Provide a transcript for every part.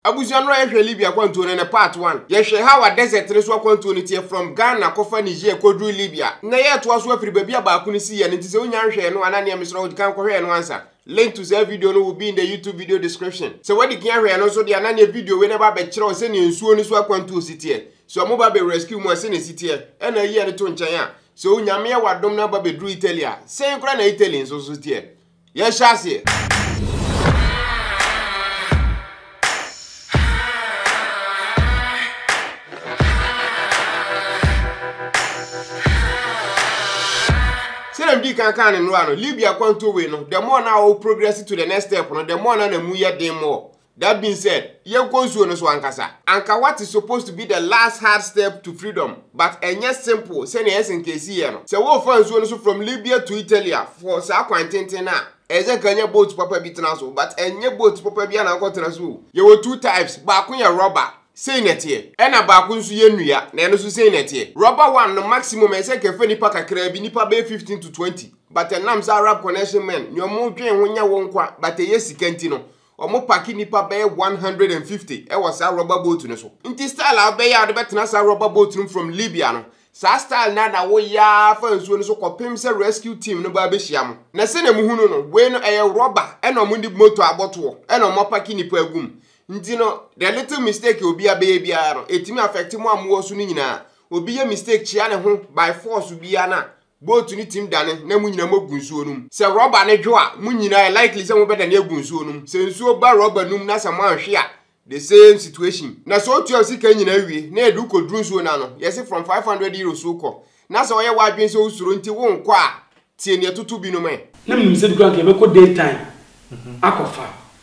Abusua no a yɛhwɛ Libya akwantuo no ne part one. Yɛhwɛ how a desert no so akwantuo no teɛ from Ghana kɔfa Niger kɔduru Libya. Nnɛ yɛɛtoa so afiri baabi a baako no siiɛ no nti sɛ wonya nhwɛɛ no anaa neɛ mesrɛ wo di kan kɔhwɛ ɛno ansa. Link to saa video no will be in the YouTube video description. Sɛ woadi kan ahwɛ ɛno nso deɛ a na neɛ video wei no ɛba abɛkyerɛ wo sɛdeɛ nsuo no so akwantuo si teɛ. Sɛ wɔn ba bɛ rescue mu a sɛdeɛ ɛsi teɛ ɛna ayi ɛno to nkyɛn a. So Nyame yɛ w'adom na aba bɛduru Italy a sɛn koraa na Italy nso so teɛ. Yɛhyɛ aseɛ. sɛdeɛ medi kan kaa ne no a no libya kwanto wei no the more na wo progress to the next step no the more na na mu yɛ den more That being said, yɛnkɔ nsuo no so ankasa. Anka what is supposed to be the last hard step to freedom but ɛnyɛ simple sɛnea ɛyɛ sɛ nka ɛsiiɛ no. Sɛ worefa nsuo no so from Libya to Italy a, for saa kwan tenten no a, ɛyɛ sɛ nka nya boat papa bi tena so but ɛnyɛ boat papa biara na wokɔtena so o. Yɛwɔ two types, baako yɛ rubber, sei na ɛteɛ, ɛna baako nso yɛ nnua, na ɛno nso sei na ɛteɛ. Rubber one no maximum ɛyɛ sɛ nka ɛfa nnipa kakraa bi, nnipa bɛyɛ fifteen to twenty but ɛnam sɛ Arab connection men nea wɔdwen ho nyɛ wo nkwa but ɛyɛ sika nti no, Wɔpake nnipa bɛyɛ one hundred and fifty wɔ saa rɔba boat no so. Nti style a wobɛyɛ a wode bɛtena saa rɔba boat no mu from Libya no, saa style no ara na woyɛ ara fa nsuo no so kɔpem sɛ rescue team no bɛba bɛhyia mo. Na sɛdeɛ mohu no no, wei no ɛyɛ rɔba ɛna wɔde motor abɔtoɔ ɛna wɔapake nnipa agu mu. Nti no, the little mistake a obiara bɛyɛ biara no, ɛtumi affect mo a mowɔ so no nyinaa. Obi yɛ mistake kyea ne ho by force biara no a, Boat no tumi dane na mo nyinaa mogu nsuo no mu. Sɛ rɔba no dwo a, mo nyinaa ɛyɛ likely sɛ mobɛdane agu nsuo no mu. Sɛ nsuo ba rɔba no mu na sɛ moanhwe a, the same situation. Na sɛ wotua wo sika nyinaa wie na ɛde wo kɔduru nsuo no ano, yɛse from five hundred euros wokɔ, na sɛ woayɛ w'adwene sɛ wosuro nti wonkɔ a, tie nea ɛtoto binom ɛ. Na menim sɛ bi koraa anka yɛbɛkɔ daytime akɔfa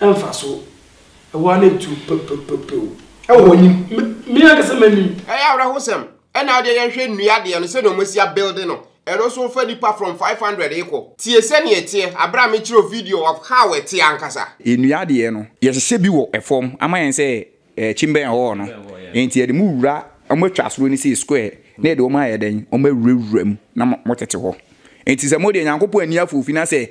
Mfaso ɛwɔ ara na tu pɛpɛpɛpɛw ɛwɔ hɔ nim me ankasa m'anim. Ɛyɛ awerɛhosɛm. Ɛna wodeɛ yɛnhwɛ nnua deɛ no sɛdeɛ wɔasi abuilde no, ɛno nso wofa nnipa from five hundred rekɔ. Tie sɛdeɛ ɛteɛ aberɛ a mekyerɛ wo video of how ɛteɛ ankasa. Nnua deɛ no yɛhyehyɛ bi wɔ fam ama yɛn sɛ Ɛkyi bɛn hɔɔ no nti yɛde mo wura ɔmo atwa asɔre no sii square na yɛde ɔmo ayɛ dɛn ɔmo awura wura mu na mo tete hɔ nti sɛ mo deɛ Nyankopɔn ani afɔ ofi na sɛ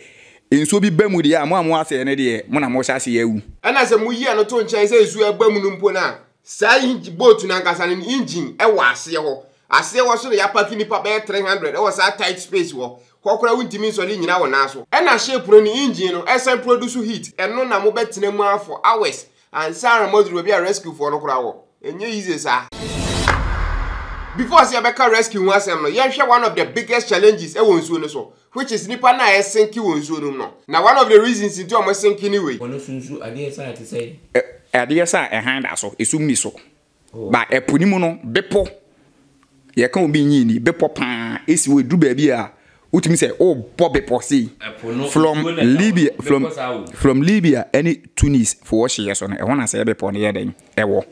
nsuo bi ba mu deɛ a mo a mo asɛɛ no deɛ mo na mo hyɛ aseɛ awu. Ɛna sɛ mo yi ɛno to nkyɛn sɛ nsuo ɛba mu no mpo no a saa engine boat no ankasa no ne engine ɛwɔ aseɛ hɔ aseɛ hɔ so na yɛapaki nnipa bɛyɛ 300 ɛwɔ saa tight space hɔ hɔ koraa wontumi nsɔre nnyina wo nan so ɛna ship no ne engine no ɛsan produce heat ɛno na mo bɛtena mu ara for hours Ansa na moaduru baabi a rescue foɔ no koraa wɔ. Ɛnyɛ easy saa. Before sɛ yɛbɛka rescue ho asɛm no, yɛnhwɛ one of the biggest challenges ɛwɔ nsuo no so, which is nipa no a ɛsenke wɔ nsuo no mu no. Na one of the reasons nti a wɔsenke ne wei. Wɔn nso nsu adeɛ saa te sɛ. Adeɛ saa a ɛhan da so, esum nni so. Ba ɛpo no mu no, bepɔ, yɛka obi nyi ni, bepɔ paa, esi hɔ, eduru baabi a, wotumi sɛ wobɔ bepɔ sei, from Libya, from, from Libya ɛne Tunis foɔ hyeɛ so no, ɛhɔ na sɛɛ bepɔ no yɛ dɛn, ɛwɔ.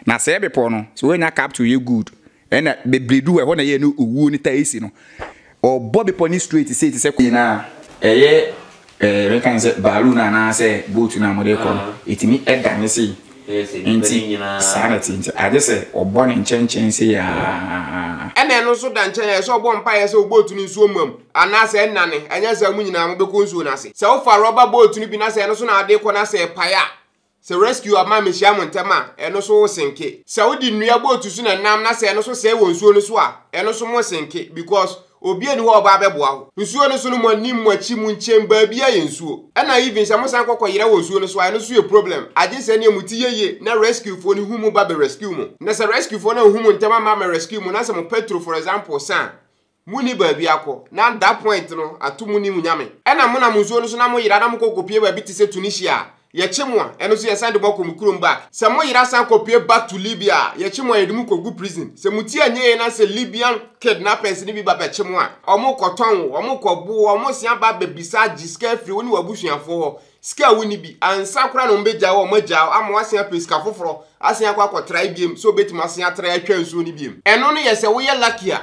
Na sɛɛ bepɔ no, sɛ woanya capital yɛ good, Ɛna bebree du hɔ a ɛhɔ na ɛyɛ ne owuo no taa si no. Ɔbɔ bepɔ no straight sei te sɛ. Yɛ no a, ɛyɛ ɛɛ mɛka no sɛ baalu no anaa sɛ boat no a mode rekɔ no, ɛtumi dane sei. Nti saa na ɛte nti agye sɛ ɔbɔ no nkyɛnkyɛn sei aa. Ɛna ɛno nso da nkyɛn a, ɛsɛ sɛ ɔbɔ mpaeɛ sɛ wo boat no nsuo mma mu anaa sɛ ɛnnane, anyɛ saa a mo nyinaa mobɛkɔ nsuo no ase. Sɛ wofa rɔba boat no bi na sɛ ɛno so na wode rekɔ na sɛ ɛpae a, Sɛ rescue aman mehyia mo ntɛm a, ɛno so wo senke. Sɛ wode nnua boat so na ɛnam na sɛ ɛno so sɛe wɔ nsuo no so a, ɛno so mo senke because obia ni hɔ a ɔbaa bɛboa wo. Nsuo no so no mo anim, mo akyi, mo nkyen baabia yɛ nsuo. Ɛna even sɛ mo san kɔ kɔ yera wɔ nsuo no so a, ɛno so yɛ problem. Agye sɛ neɛ mo ti yɛ yie na rescue foɔ no hu mo ba bɛ rescue mo. Na sɛ rescue foɔ no anhu mo ntɛm amma ammɛ rescue mo na sɛ mo petrol for example sa a, Munni baabi akɔ, na that point no, ato munni mo Nyame. Ɛna monam nsuo no so na moyera na mokɔ kɔpue baabi te sɛ Tunisia a, yɛkye mo a, ɛno nso yɛsan de mo akɔ mo kurom ba. Sɛ moyera san kɔpue back to Libya a, yɛkye mo a yɛde mo kɔ gu prison. Sɛ mo ti anyɛ yie na sɛ Libyan kidnappers no bi ba bɛkye mo a, wɔn kɔtɔn wo, wɔn kɔbo wo, wɔn san ba bɛbisa gye sika afiri wo ne w'abusuafoɔ hɔ, sika a wonni bi, ansa koraa na wɔn bɛgya wo a, wɔn agya wo ama woasan apɛ sika foforɔ asan akɔ akɔtrae biom sɛ wobɛtumi asan atrae atwa nsuo no biom. Ɛno no yɛ sɛ woyɛ lucky a,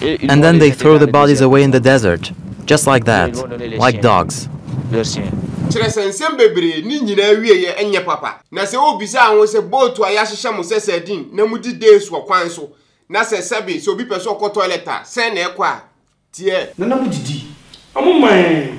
And then they throw the bodies away in the desert just like that, like dogs. Kyerɛ sɛ, nsɛm bebree, ne nyinaa awieeɛ nyɛ papa. Na sɛ wɔbisa wo sɛ, Bootu a yɛahyehyɛ mo sɛ sardine na mudi days wɔ kwan so, na sɛ, sɛbe, sɛ obi pɛ sɛ ɔkɔ toilet a, sɛn na ɛkɔ a, teɛ? Na na modidi. Wɔman.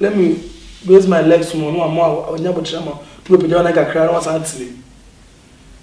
Let me raise my legs more na wama ɔnya abokyerɛ ma na wapagya wo nan kakra na wasan atene mu.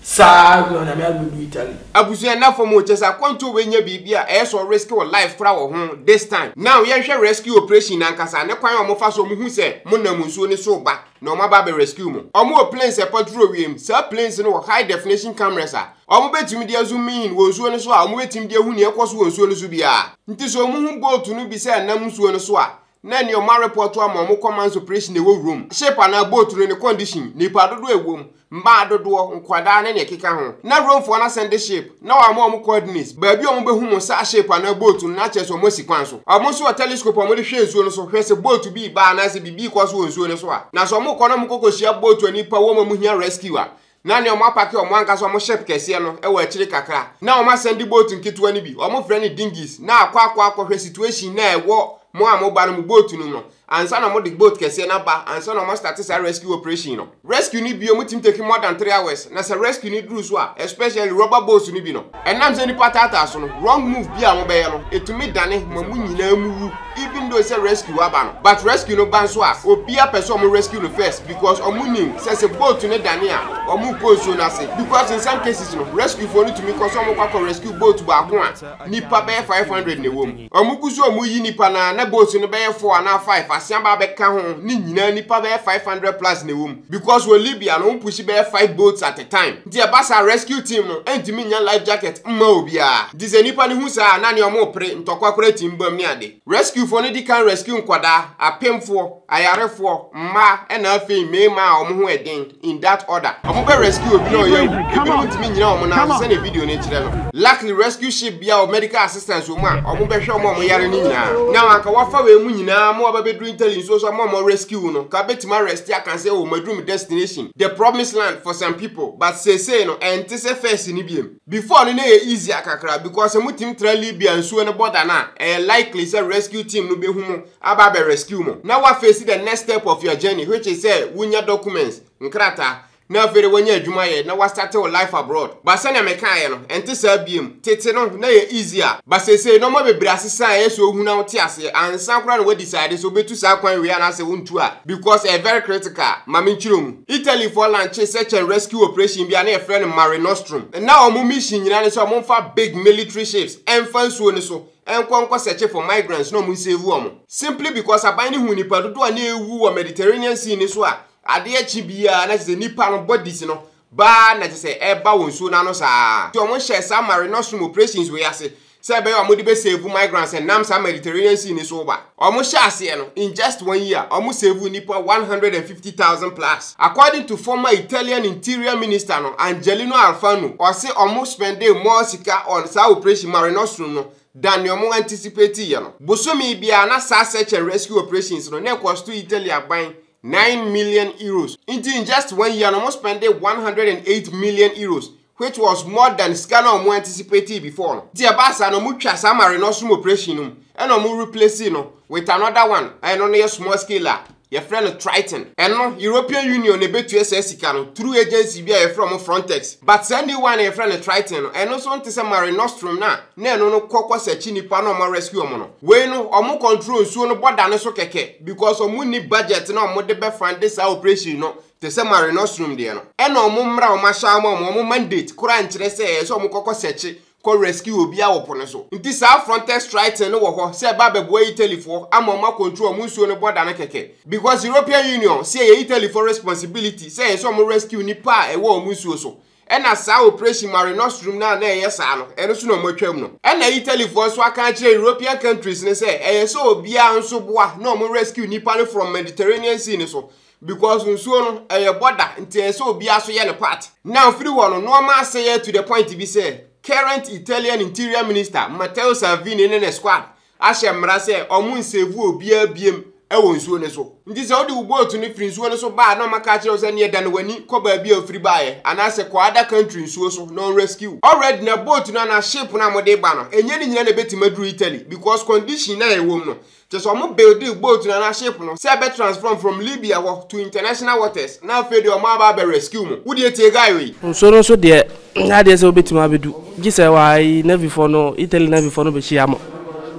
Saa na Onyame abɛdu Italy. Abusua nna fam o kyɛsɛ akwantuo wei nyɛ biribi a ɛyɛ sɛ ɔ risk ɔ life kora wɔ ho this time now yɛnhwɛ rescue operation no ankasa ne kwan a ɔmo fa so ɔmo hu sɛ mo nam nsuo no so ba na ɔmo aba abɛ rescue mo ɔmo wɔ planes a ɛpɔtro wiem saa planes no wɔ high definition cameras a ɔmo bɛtumi de azoom in wɔ nsuo no so a ɔmo bɛtumi de ahu nea ɛkɔ so wɔ nsuo no so biara nti sɛ ɔmo hu boat no bi sɛ ɛnam nsuo no so a na nea ɔma repɔɔto ama wɔn kɔmanso operation na ɛwɔ wuram, ship anaa boat no ne condition, nnipa dodoɔ a ɛwom, mmaa dodoɔ, nkwadaa ne nea ɛkeka ho. Na Romefoɔ no asan de ship na wɔama wɔn coordinates, baabi a wɔbɛhu mo saa ship anaa boat no na akyerɛ sɛ wɔasi kwan so. Wɔn nso wɔ telescope a wɔde hwɛ nsuo no so hwɛ sɛ boat bi reba anaasɛ biribi rekɔ so wɔ nsuo no so a. Na sɛ wɔrekɔ na wɔkɔ kɔhyia boat a nnipa wom a wɔhia rescue a, na nea wɔapake wɔn ankasa wɔn ship kɛseɛ no wɔ akyire kakra, na wɔasan de boat nketewa no bi, wɔfrɛ no dinghies, na akɔ akɔ akɔhwɛ situation no a ɛwɔ mo a moba no mo boat no mu no ansa na wɔde boat kɛseɛ no aba ansa na wɔastate saa rescue operation no. Rescue no biom tumi take more than three hours, na sɛ rescue no duru so a, especially rubber boats no bi no, Ɛnam sɛ nnipa taataa so no, wrong move bi a wɔbɛyɛ no, ɛtumi dane ma mo nyinaa mu wu, even though sɛ rescue aba no, but rescue no ba nso a, obia pɛ sɛ wɔn rescue no first because wɔn nim sɛ sɛ boat no dane a, wɔn rekɔ nsuo no ase, because in some cases no, rescue foɔ no tumi kɔ sɛ wɔn rekɔ akɔ rescue boat baako a nnipa bɛyɛ 500 na ɛwɔ mu. Wɔgu so a wɔreyi nnipa no ara, na boats no bɛyɛ four anaa five, asean ba abɛka ho, ne nyinaa nnipa bɛyɛ five hundred plus na ɛwɔ mu. Because wɔ Libya no, wɔpushi bɛyɛ five boats at a time, nti ɛba saa a rescue team no ntumi nnya life jacket mma obiara. Nti sɛ nnipa no hu saa a, na nea wɔrepere, ntɔkwa koraa tumi bam ne ade. Rescuefoɔ no di kan rescue nkwadaa, apemfoɔ, ayarefoɔ, mmaa, ɛna afei mmarimaa a wɔn ho yɛ den. in that order. Ɔmo bɛ rescue obi na ɔyɛ awu. Ebinom ntumi nnyina ɔmo nan so sɛnea video no kyerɛ no. Luckily rescue ship biara wɔ medical assistance wɔ mu a ɔmo bɛ hwɛ ɔmo a ɔmo yare no nyinaa. Now anka wafa wei mu nyinaa ama waba bɛduru Italy nsuo so ama ɔmo rescue wo no, ka bɛtumi arest aka sɛ oh maduru me destination, the promised land for some people, but seesei no ɛnte sɛ first no biom. Before no na ɛyɛ easier kakra because sɛ motumi tra Libya nsuo no border no a, ɛyɛ likely sɛ rescue team no bɛhu mo aba abɛ rescue mo. Na woafeesi the next step of your journey which is sɛ wonya documents, nkrataa, na afei de woanya adwuma ayɛ na woastarte wo life abroad. But sɛnea mekaeɛ no, ɛnte saa biom. Tete no, na ɛyɛ easier but seesei nnoɔma bebree asesa a ɛyɛ sɛ wohu na wote aseɛ ansa koraa na woadecide sɛ wobɛtu saa kwan wei anaasɛ wontu a because ɛyɛ very critical. Ma menkyerɛ mu. Italyfoɔ lanche search and rescue operation bi a na yɛfrɛ no Mare Nostrum. Na wɔn mission nyinaa ne sɛ wɔmfa big military ships mfa nsuo no so nkɔ nkɔ searche for migrants na wɔnsave wɔn. Simply because aban no huu nnipa dodoɔ a na ɛrewu wɔ Mediterranean Sea no so a adeɛ kye biara na kyerɛ sɛ nnipa no bodies no baa na kyerɛ sɛ ɛreba wɔ nsuo no ano saa ara nti wɔhyɛɛ saa Mare Nostrum operations wei ase sɛ ɛbɛyɛ a wɔde bɛsave migrants ɛnam saa Mediterranean Sea no so ba. Wɔhyɛ aseɛ no, in just one year, wɔsave nnipa 150,000 plus. According to former Italian Interior Minister no, Angelino Alfano, ɔse wɔn spendee more sika on saa operation Mare Nostrum no than nea wɔn anticipateeɛ no. Bosome biara na saa search and rescue operations no na ɛkɔsto Italy aban nine million euros. Nti in just one year no wɔspendee 108 million euros which was more than sika na ɔmo anticipatee before no, nti ɛbaa saa no ɔmo twaa saa marinostomy operation no mu ɛna ɔmo replacee no with another one a ɛno no yɛ small scale a yɛfrɛ no Triton, ɛno European Union na ɛbɛtua saa sika no through agency bi a yɛfrɛ ɔmo Frontex, but saa new one a yɛfrɛ no Triton no ɛno nso nte sɛ marinostrum no a na ɛno no kɔ kɔ searchi nnipa na ɔmo rescue ɔmo no, wei no ɔmo control nsuo no border no so kɛkɛ because ɔmo nni budget na ɔmo de bɛ funde saa operation no te sɛ Mare Nostrum deɛ no, ɛna wɔn mmara a wɔahyɛ ama wɔn, wɔn mandate koraa nkyerɛ sɛ ɛsɛ wɔn kɔkɔ sɛkye kɔ rescue obiara wɔ po no so. Nti saa Frontex Triton no wɔ hɔ sɛ ɛba abɛboa Italyfoɔ ama wɔn akɔntrol wɔn nsuo no bɔda no kɛkɛ because European Union se ɛyɛ Italyfoɔ responsibility sɛ ɛsɛ wɔn rescue nnipa a ɛwɔ wɔn nsuo so Ɛna saa operation Mare Nostrum no a na ɛyɛ saa no, ɛno nso na wɔatwam no. Ɛna Italyfoɔ nso aka akyerɛ European countries no sɛ ɛyɛ sɛ obiara nso boa na wɔn rescue nnipa no from Mediterranean Sea no so because nsuo no, ɛyɛ border nti ɛyɛ sɛ obiara nso yɛ ne part. Now firi hɔ no, nnoɔma asɛeɛ to the point bi sɛ current Italian Interior Minister Matteo Salvini ne ne squad ahyɛ mmara sɛ ɔmo nsevu obiara biem wɔ nsuo no so. Nti sɛ wode wo boat no firi nsuo no so ba a na ɔmaka akyerɛ wo sɛ neɛ dane w'ani kɔ baabi a ofiri baeɛ anaasɛ kɔ other country nsuo so na ɔnrescue wo. Already na boat no anaa ship no a mode ba no ɛnyɛ ne nyinaa na ɛbɛtumi aduru Italy because condition no a ɛwom no kyerɛ sɛ ɔmo buildee boat no anaa ship no sɛ ɛbɛ transform from Libya hɔ to international waters na afei deɛ ɔmo aba abɛ rescue mo. Wodeɛ tie guy wei. Nsuo no so deɛ Nyɛ adeɛ sɛ wobɛtumi abɛdu, gye sɛ wai Navyfoɔ no, Italy Navyfoɔ no bɛhyia mo.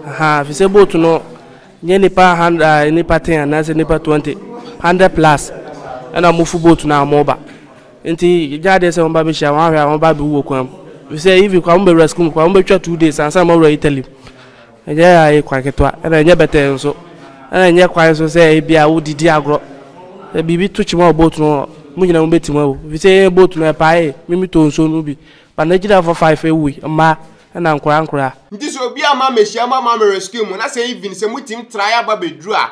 Ahaa, ɛfiri sɛ boat no, nyɛ nnipa hundred, ah, nnipa ten anaasɛ nnipa twenty, hundred plus ɛna wɔn fu boat no a wɔn ba. Nti nyɛ adeɛ sɛ wɔn ba bɛhyia wɔn ahwɛ a wɔn ba abɛwu wɔ kwan mu. Ɛfiri sɛ even kora wɔn bɛwura sukuu mu kora wɔn bɛtwa two days ansa na wɔawura Italy mu. Ɛnyɛ yaa yɛ kwan ketewa, ɛna ɛnyɛ bɛtɛɛ nso. Ɛna ɛnyɛ kwan nso sɛ ebia wodidi agorɔ. Sɛ biribi to kyima wɔ boat no ho a, mo nyinaa mobɛtim awu. Ɛfiri sɛ yɛn boat no, ɛpaee, me metɔɔ nsuo no bi. But n'agyinafoɔ five wuui, mmaa ɛna nkoraa nkoraa. Nti sɛ obiara mma mmɛhyia mo amma me rescue mo, na sɛ even sɛ motim trae aba bɛduru a,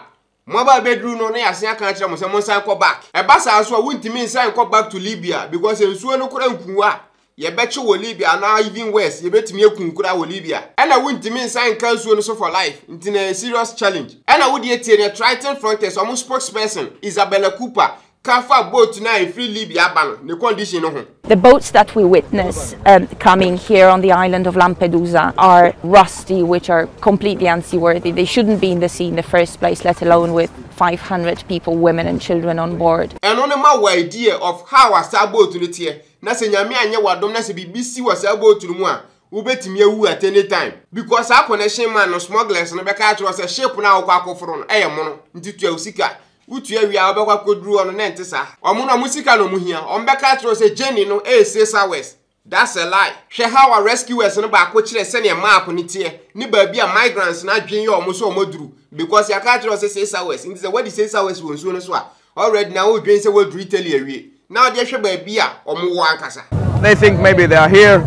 Mo aba abɛduru no na yɛasen aka akyerɛ mo sɛ monsan kɔ back. Ɛba saa nso a wontumi nsan nkɔ back to Libya because nsuo no kora nku a yɛbɛkye wɔ Libya anaa even worse yɛbɛtumi aku kora wɔ Libya. Ɛna wontumi nsan nka nsuo no so for life nti na ɛyɛ serious challenge. Ɛna wodeɛ tie nea Triton Frontiers wɔn spokesperson Isabella Cooper ka fa boat no a ɛfiri Libya ba no, ne condition no ho. The boats that we witness um, coming here on the island of Lampedusa are rusty, which are completely unseaworthy. They shouldn't be in the sea in the first place, let alone with 500 people, women and children on board. Ɛno no ma wɔ idea of how a saa boat no teɛ, na sɛ Nyame anyɛ w'adom na sɛ biribi si wɔ saa boat no mu a, wobɛtumi awu at any time. Because saa connection man no smugglers no bɛka akyerɛ sɛ ship no a wokɔ akɔforo no ɛyɛ mono, nti tua wo sika. Wotua wie a wobɛkɔ akɔduru hɔ no na ɛnte saa. Ɔmo no ɔmo sika na ɔmo hia. Ɔmo bɛka akyerɛ wo sɛ journey no ɛyɛ six hours. That's a lie. Hwɛ how a rescuers no baako kyerɛ sɛdeɛ map no teɛ ne baabi a migrants no adwene yɛ ɔmo sɛ ɔmo aduru because yɛaka akyerɛ wo sɛ six hours nti sɛ woadi six hours wɔ nsuo no so a already na wodwene sɛ woaduru Italy awie. na ɔde ahwɛ baabi a wɔwɔ ankasa. They think maybe they are here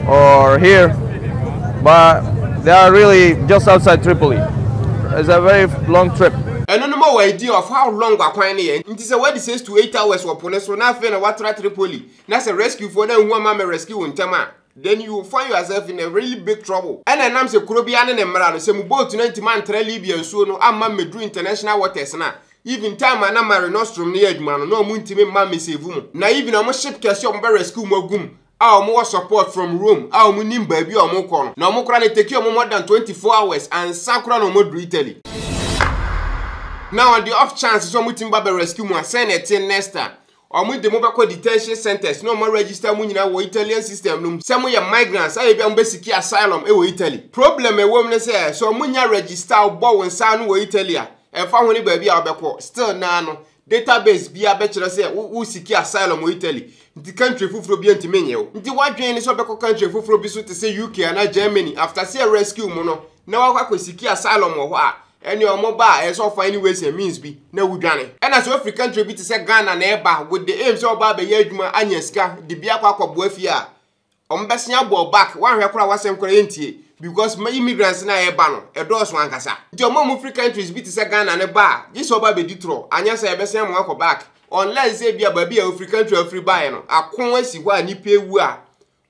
or here, but they are really just outside Tripoli. It's a very long trip. Ɛno no ma wɔadi of how long akwan no yɛ. Nti sɛ wɔadi six to eight hours wɔ po no so na afei na wɔatra Tripoli na sɛ rescuefoɔ no anhu amammerɛ rescue wo ntɛm a, Then you will find yourself in a really big trouble. Ɛna ɛnam sɛ kuro biara ne ne mmara no, sɛ mo boat no antumi antra Libya nsuo no amma mmɛduru international waters no a, even time a na Mare Nostrum no yɛ adwuma no, na wɔn ntumi mma mmɛsave mo. Na even wɔn ship kɛseɛ a wɔn bɛ rescue mo agu mu a wɔn wɔ support from Rome a wɔn nim baabi a wɔn kɔ no, na wɔn koraa no etake wɔn more than 24 hours ansa koraa na wɔn aduru Italy. Now on the off chance sɛ wɔn tumi ba bɛ rescue mo a, sɛn na ɛteɛ next time? Wɔde mo bɛkɔ detention centres na wɔma register mo nyinaa wɔ Italian system no mu sɛ moyɛ migrants a ebia mobɛsiki asylum wɔ Italy. Problem a ɛwɔ mu ne sɛ, sɛ wɔnnya register wo, bɔ wo nsa ano wɔ Italy a, ɛmfa ho ne baabi a wobɛkɔ, still naa no, database biara bɛkyerɛ sɛ wo wosiki asylum wɔ Italy, nti country foforɔ biara ntumi nnye wo. Nti w'adwene ne sɛ wobɛkɔ country foforɔ bi so te sɛ UK anaa Germany, after sɛ yɛrescue mo no, na woakɔ akɔsiki asylum wɔ hɔ a, Ɛne ɔmo ba a ɛyɛ sɛ ɔfa any ways and means bi na wodwane. Ɛna sɛ ofiri country bi te sɛ Ghana na ɛba with the aim sɛ ɔba abɛyɛ adwuma anya sika de bi akɔ akɔboa fie a, ɔmo bɛsen abɔ wo back, woanhwɛ koraa a w'asɛm koraa yɛntie because ma immigrants no a ɛba no ɛdɔɔso ankasa. Nti ɔmo a ɔmo firi countries bi te sɛ Ghana no ba a, gye sɛ ɔba abɛdi torɔ, anyɛ saa a yɛbɛsen ama wakɔ back unless sɛ ebia baabi a ofiri country a ofiri baeɛ no ako asi hɔ a nnipa awu a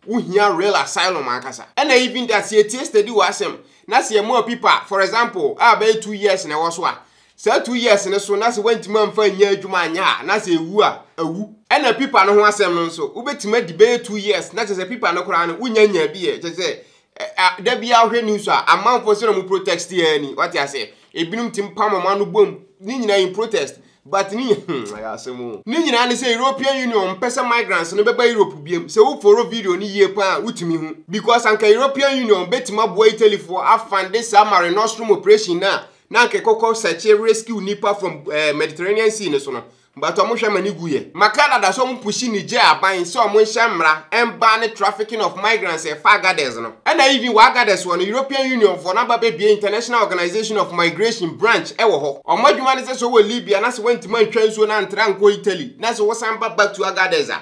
Wo hia real asylum ankasa. Ɛna even that sɛ yɛtie steady wɔ asɛm na sɛ yɛma opipa for example a bɛyɛ two years na ɛwɔ so a saa two years no so na sɛ wantumi amfa nyɛ adwuma anyɛ a na sɛ ɛwu a awu. Ɛna pipa no ho asɛm no nso wobɛtumi adi bɛyɛ two years na kyɛ sɛ pipa no koraa no wonya nyaa bi ɛ kyɛ sɛ Ɛ a da biara wohwɛ news a amanfoɔ sɛ na ɔmo protest yɛ ni wate aseɛ ebinom tim pam ɔmo ano bom ne nyinaa in protest but ne nyinaa hmm ɛyɛ asɛm o ne nyinaa ne sɛ European Union mpɛ sɛ migrants no bɛba Europe biam sɛ wo foro video no yie paa a wotumi hu because anka European Union bɛtumi aboa Italyfoɔ afande saa Mare Nostrum operation no a na anka ɛkɔkɔ search rescue nnipa from eh, Mediterranean Sea no so no But ɔmo hwɛ ma ne gu yɛ. Ma Canada sɛ ɔmo pushi Niger aban sɛ ɔmo nhyɛ mmra ɛmba ne trafficking of migrants ɛfa Agadez no. Ɛna even wɔ Agadez hɔ no European Union foɔ no aba bɛ bue International Organization of Migration branch ɛwɔ hɔ. Ɔmo adwuma ne sɛ sɛ ɔwɔ Libya na sɛ wantumi antwa nsuo no antra ankɔ Italy na sɛ wosan ba back to Agadez a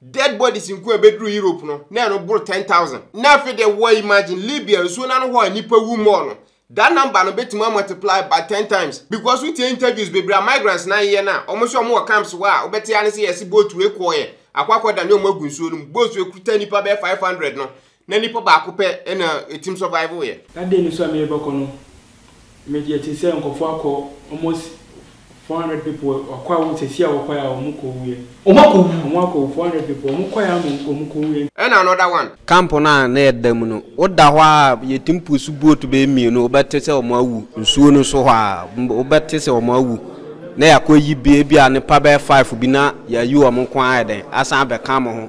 Dead bodies nko a ɛbɛduru Europe no, na ɛno boro 10,000. Na afei deɛ wɔ imagine Libya nsuo no ano hɔ a nnipa wu mɔɔ no, that number no bɛtumi a multiply by 10 times because wotie interviews bebree a migrants no ayeyɛ no a, wɔn nso a wɔn wɔ camps hɔ a wobɛte ara ne sɛ yɛse boat wei kɔɔeɛ akɔ akɔdane wɔn agu nsuo no mu, boat wei kuta nnipa bɛyɛ 500 no, Na nipa baako pɛ na etim survive yɛ. Na day no so a me rebɛkɔ no me yɛte sɛ nkorɔfoɔ akɔ almost four hundred people wakɔ a wɔn sɛsi a wɔkɔɛ a wɔn kɔ wuiɛ. Wɔn akɔ wu. Wɔn akɔ wu four hundred people wɔn kɔɛ a wɔn wɔn kɔ wuiɛ. Ɛna another one. Camp no a na yɛ da mu no wo da hɔ a yɛtim pusu boat bɛyɛ mmienu wo bɛte sɛ wɔn awu nsuo no so hɔ a wo bɛte sɛ wɔn awu na yɛakɔ yi bi ebi a nipa bɛyɛ five bi na yɛayi wɔn nko ara ayɛ dɛn asan abɛka mo ho.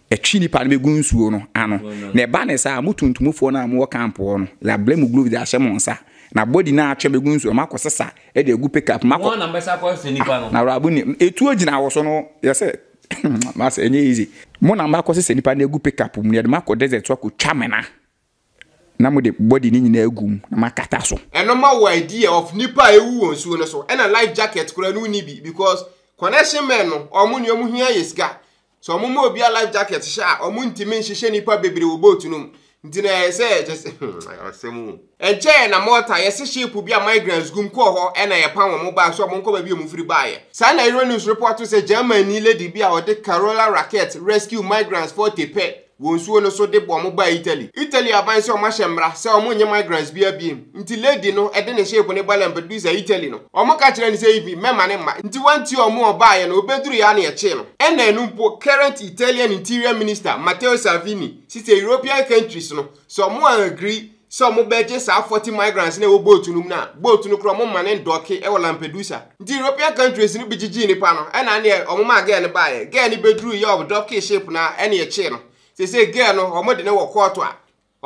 Ɛtwe nnipa no bɛgu nsuo no ano. Na ɛba no saa a, mo tuntumfoɔ no a mowɔ kamp hɔ no, yɛabrɛ mo gloves de ahyɛ mo nsa, na body no a atwe bɛgu nsuo no, moakɔsesa de agu pickup mu akɔ. Na awuraba no nim. Etuo gyina wo so no, yɛ sɛ, Master, ɛnyɛ easy. Mo na moakɔsesa nnipa no agu pickup mu, na yɛde mo akɔ desert so akɔtwa amena. Na mode body no nyinaa gu mu na moakata so. Ɛno ma wo idea of nipa a ewu wɔ nsuo no so ɛna life jacket koraa no wonni bi because connection men no wɔn nea wɔn hia yɛ sika sɛ wɔn ma obiara life jacket hyɛ a wɔn ntumi nhyehyɛ nipa bebree wɔ boat no mu nti na ɛyɛ sɛ kyɛ sɛ hmm ayɛ asɛm o. Ɛnkyɛɛ na Malta yɛse ship bi a migrants gum kɔɔ hɔ ɛna yɛpam wɔn baa so a wɔn nkɔ baabi a wɔn firi baeɛ. Saa na Euronews reporto sɛ Germanni lady bi a ɔde Carola Rackete rescue migrants 40 pɛ Wɔ nsuo no so de boɔ mo baa Italy. Italy aban sɛ wɔn ahyɛ mmra sɛ wɔn nnye migrants biara biem. Nti lady no de ne ship no ba Lampedusa, Italy no. Wɔn ka kyerɛ no sɛ Ivy, mɛma ne mma. Nti wantie wɔn a wɔbaeɛ no, wɔbɛduruiɛ ara na yɛkyee no. Ɛna ɛno mpo, current Italian interior minister, Matteo Salvini, se sɛ European countries no, sɛ wɔn ann agree sɛ wɔbɛgye saa 40 migrants na ɛwɔ boat no mu no a boat no koraa wɔma ne ndɔke wɔ Lampedusa nti European countries no bi gyegye nipa no ɛna ne wɔn maa girl no baeɛ girl no bɛduru yɛ wɔn dɔke ship no ɛne ɛkyee no sɛ sɛ girl no wɔn de no wɔ kɔɔto a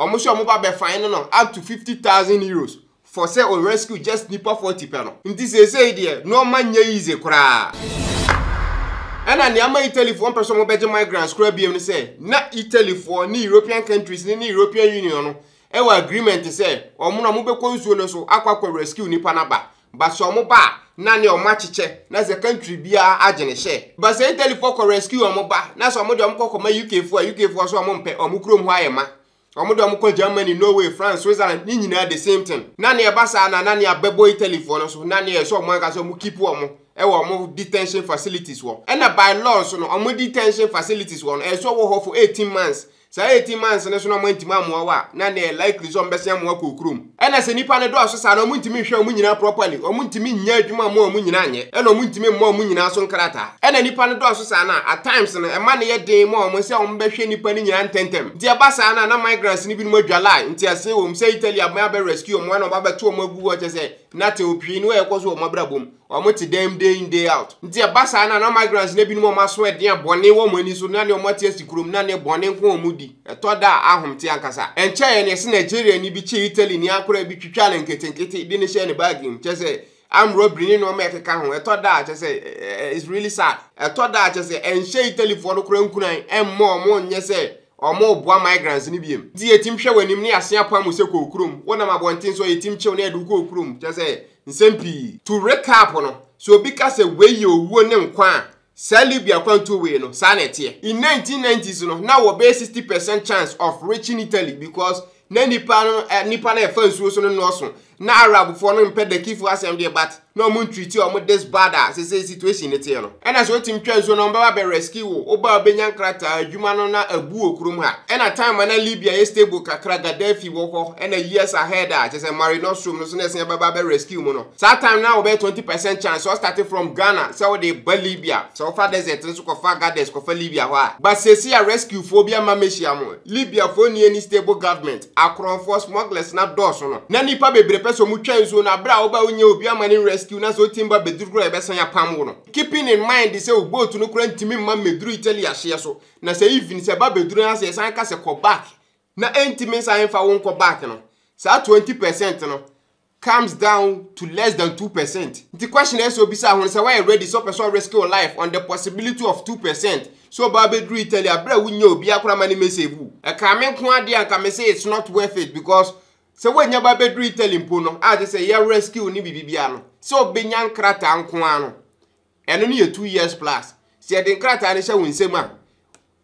wɔn sɛ wɔn ba bɛ fine no no up to 50,000 euros for sɛ o rescue just nipa 40 pɛ no nti sɛ sɛ deɛ nneɛma nyɛ easy koraa ɛna nneɛma Italyfoɔ mpɛ sɛ wɔn bɛgye migrants koraa biam no sɛ Na Italy foɔ ne European countries ne ne European Union no ɛwɔ agreement sɛ ɔmo na ɔmo bɛkɔ nsuo no so akɔ akɔ rescue nipa no aba. But sɛ ɔmo ba a na ne ɔmo akyekyɛ na sɛ country biara agye ne hyɛ. But sɛ Italy foɔ kɔ rescue ɔmo ba na sɛ ɔmo deɛ ɔmo kɔ kɔma UK foɔ a UK foɔ so ɔmo mpɛ ɔmo kurom hɔ ayɛ ma. Wɔn de wɔn kɔ Germany, Norway, France, Switzerland ne nyinaa the same thing. Na nea ɛba saa na na nea bɛbɔ Italyfoɔ no so na nea ɛsɛ wɔn ankasa wɔn keep wɔn ɛwɔ wɔn detention facilities wɔ. Ɛna by law nso no wɔn detention facilities wɔ no ɛsɛ wɔwɔ hɔ for 18 months. Saa 18 months no so na wɔn antumi amoa wɔ a na nea likely sɛ wɔn bɛsen amoa kɔ okurom. Ɛna sɛ nnipa no dɔɔso saa no, wɔn ntumi nhwɛ wɔn nyinaa properly, wɔn ntumi nyɛ adwuma mmoa wɔn nyinaa nyɛ, ɛna wɔn ntumi mmɔ wɔn nyinaa so nkrataa. Ɛna nnipa no dɔɔso saa no a, at times no, ɛma no yɛ den ma wɔn sɛ wɔn bɛhwɛ nnipa no nyinaa ntɛntɛm. Nti ɛba saa no a, na migrants no binom adwa line, nteaseɛ wɔ mu, sɛ Italy aban abɛ rescue wɔn, ɛna wɔn abɛto wɔn agu hɔ, kyerɛ sɛ, nothing, hwee ni a ɛkɔ so wɔ wɔn abrabɔ mu. Wɔn te dɛm day in day out. Nti ɛba saa na na migrants no ebinom wɔn aso ɛdeɛn bɔne wɔn ani so na ne wɔn ate asi kurom na ne bɔne nko wɔn di. Ɛtɔ da a ahom te ankasa. Ɛnkyɛeɛ na yɛse Nigeriani bi kyee Italy ni akoraa bi twitwaa no nketenkete de no hyɛɛ ne baage mu. Kyerɛ sɛ armed robbery ne nnoɔma a ɛkeka ho. Ɛtɔ da a kyerɛ sɛ it's really sad. Ɛtɔ da a kyerɛ sɛ ɛnhyɛ Italyfoɔ no koraa nkuran ɛmmɔ wɔn nyɛ sɛ Wɔreboa migrants no bio. Nti yɛ tim hwɛ w'anim ne asea paa mu sɛ kɔɔ kurom. Wo nam abɔnten so a yɛ tim kyew na yɛde wo kɔɔ kurom. Kyerɛ sɛ nsɛm pii. To recap no, sɛ obi ka sɛ wei yɛ owuo ne nkwa a, saa Libya kwantuo wei no, saa na ɛteɛ. In 1990s no, na wɔ bɛyɛ 60 percent chance of reaching Italy because Na nnipa no eh, nnipa na ɛfa nsuo so no nnɔɔso na Arabfoɔ no mpɛ dakifoɔ asɛm deɛ but na ɔmo ntriti ɔmo this bad a sese situation ne teɛ no ɛna sɛ otim twa nsuo no ɔmo bɛba bɛ rescue wo woba obɛnya nkrataa adwuma no na abu wɔ kurom ha ɛna time a na Libya yɛ stable kakra Gaddafi wɔ hɔ ɛna years ahead a kyɛ sɛ Mare Nostrum no so na ɛsɛn bɛba bɛ rescue mu no saa time na wɔbɛyɛ 20 percent chance sɛ ɔstarte from Ghana sɛ wode ba Libya sɛ wofa desert nso kɔfa Gades kɔfa Libya hɔ a but sese a rescuefoɔ bi ama mɛhyia mo Libya foɔ nni any stable government, akorɔnfoɔ, smugglers no adɔɔso no, na nnipa bebree pɛ sɛ wɔn twa nsuo no, aberɛ a wo ba a wo nnya obi ama no rescue no a sɛ wo team ba bɛduru koraa a yɛbɛsan apam wo no, keeping in mind sɛ wo boat no koraa ntumi mma mmɛduru Italy ahyeɛ so, na sɛ even sɛ ɛba bɛduru no a sɛ yɛsan ka sɛ kɔ back na ɛntumi nsan mfa wo nkɔ back no, saa twenty percent no, comes down to less than two percent nti question ɛsɛ obisa ho sɛ wɔyɛ ready sɛ ɔpɛ sɛ ɔrisk your life on the possibility of two percent so ɔbaa bɛduru Italy abere a wonyɛ obi akora ma ne message wu ɛkaa me nko adeɛ anka me sɛ it's not worth it because sɛ wɔnya baa bɛduru Italy mpo no agye sɛ yɛ rescue ne biribi bia no sɛ ɔbɛnya nkrataa nko ano ɛno no yɛ two years plus sɛ yɛde nkrataa no hyɛ wo nsam a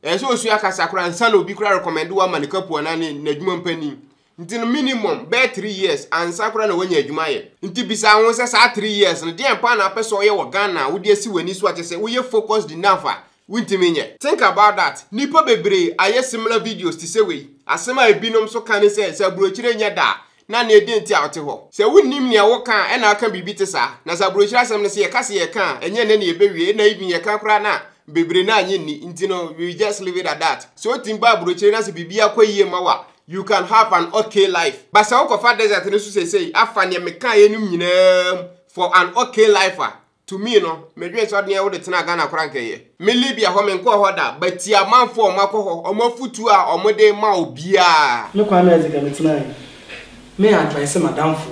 ɛyɛ sɛ osua kasa koraa nsa na obi koraa rekɔmɛnde wo ama ne kapu anaa ne n'adwuma mpanyin nti no minimum bɛyɛ three years ansa koraa na wanya adwuma ayɛ nti bisa ho sɛ saa three years no deɛn paa na apɛ sɛ ɔyɛ wɔ Ghana a wode asi w'ani so a kyɛ sɛ woyɛ focused enough a wontumi nyɛ think about that nnipa bebree ayɛ similar videos te sɛ wei asɛm a ebinom nso ka ne sɛ sɛ aburokyire nyɛ da a Na nea edi nti a ɔte hɔ. Sɛ wunnim nea woka a, ɛna aka biribi te saa. Na sɛ aburokyiri asɛm no, sɛ yɛka se yɛreka a, ɛnyɛ nnɛ na yɛbɛwie, ɛna even yɛka koraa no a, bebree no annye nni. Nti no, we will just leave it at that. Sɛ otumi ba aburokyiri na sɛ biribi akɔ yie mma wo a, you can have an ok life. But sɛ wokɔfa desert no so seesei afa nea mekaeɛ nom nyinaa mu for an ok life a, to me no medwen sɛ ɔdeɛ wode tenaa Ghana koraa nka ɛyɛ. Me Libya hɔ menkɔɔ hɔ da but tie amanfoɔ a wɔn akɔ hɔ wɔn afutuo a wɔn de rema obiara. Me Kwame Adzeika me tena he me advice m'adamfo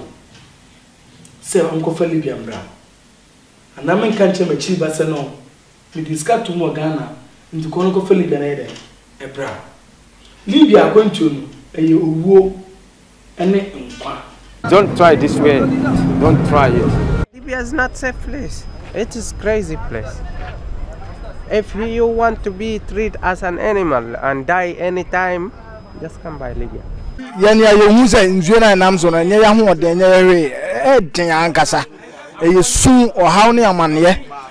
sɛ ɔnkɔfa Libya mbra anaa me nka nkyerɛ m'akyiri ba sɛ no mede sika tom wɔ Ghana nti kɔ no kɔfa Libya no yɛ dɛn ɛbra Libya akwantuo no ɛyɛ owuo ne nkwa. Don't try this way don't try it. Libya is not safe place it is crazy place if you want to be treat as an animal and die any time just come by Libya. Yɛn nea yɛhu sɛ nsuo no a ɛnam so no, ɛnyɛ yɛn ahoɔden, ɛnyɛ yɛn hwee, ɛyɛ den ankasa. Ɛyɛ sum, ɔhaw ne amanneɛ.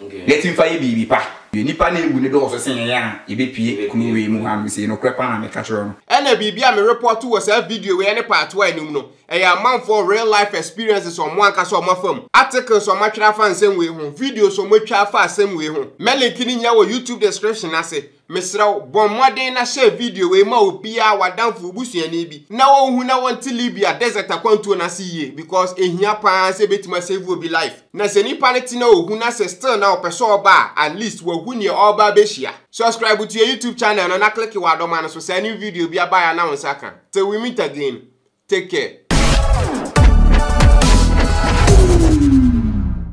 Yɛte mfa yɛ biribi pa. Hwɛ, nnipa na awu no dɔɔso sen yɛn a yɛbɛpue kurow wei mu ha no sei, nokorɛ paa na meka kyerɛ wo. Ɛna biribi a me repɔɔto wɔ saa video wei ɛne part a ɛnim no, ɛyɛ amanfoɔ real life experiences a wɔn ankasa wɔn afa mu, articles a wɔn atwerɛ afa nsɛm wei ho, videos a wɔn atwa afa asɛm wei ho, mɛ link no nyinaa wɔ YouTube description no ase. Mesrɛ wo, bɔ mmɔden na hyɛ video wei ma obiara, w'adamfo, wo busuani bi, na ɔnhu na ɔnte Libya desert akwantuo no ase yie because ɛhia pa ara sɛ ɛbɛtumi asave obi life. Na sɛ nipa no te na ɔhu na sɛ still na ɔpɛ sɛ ɔba a, at least wahu neɛ ɔreba abɛhyia. Subscribe to yɛn YouTube channel no na click w'adɔma no so sɛ new video biara baeɛ a na wo nsa ka. Till we meet again, take care.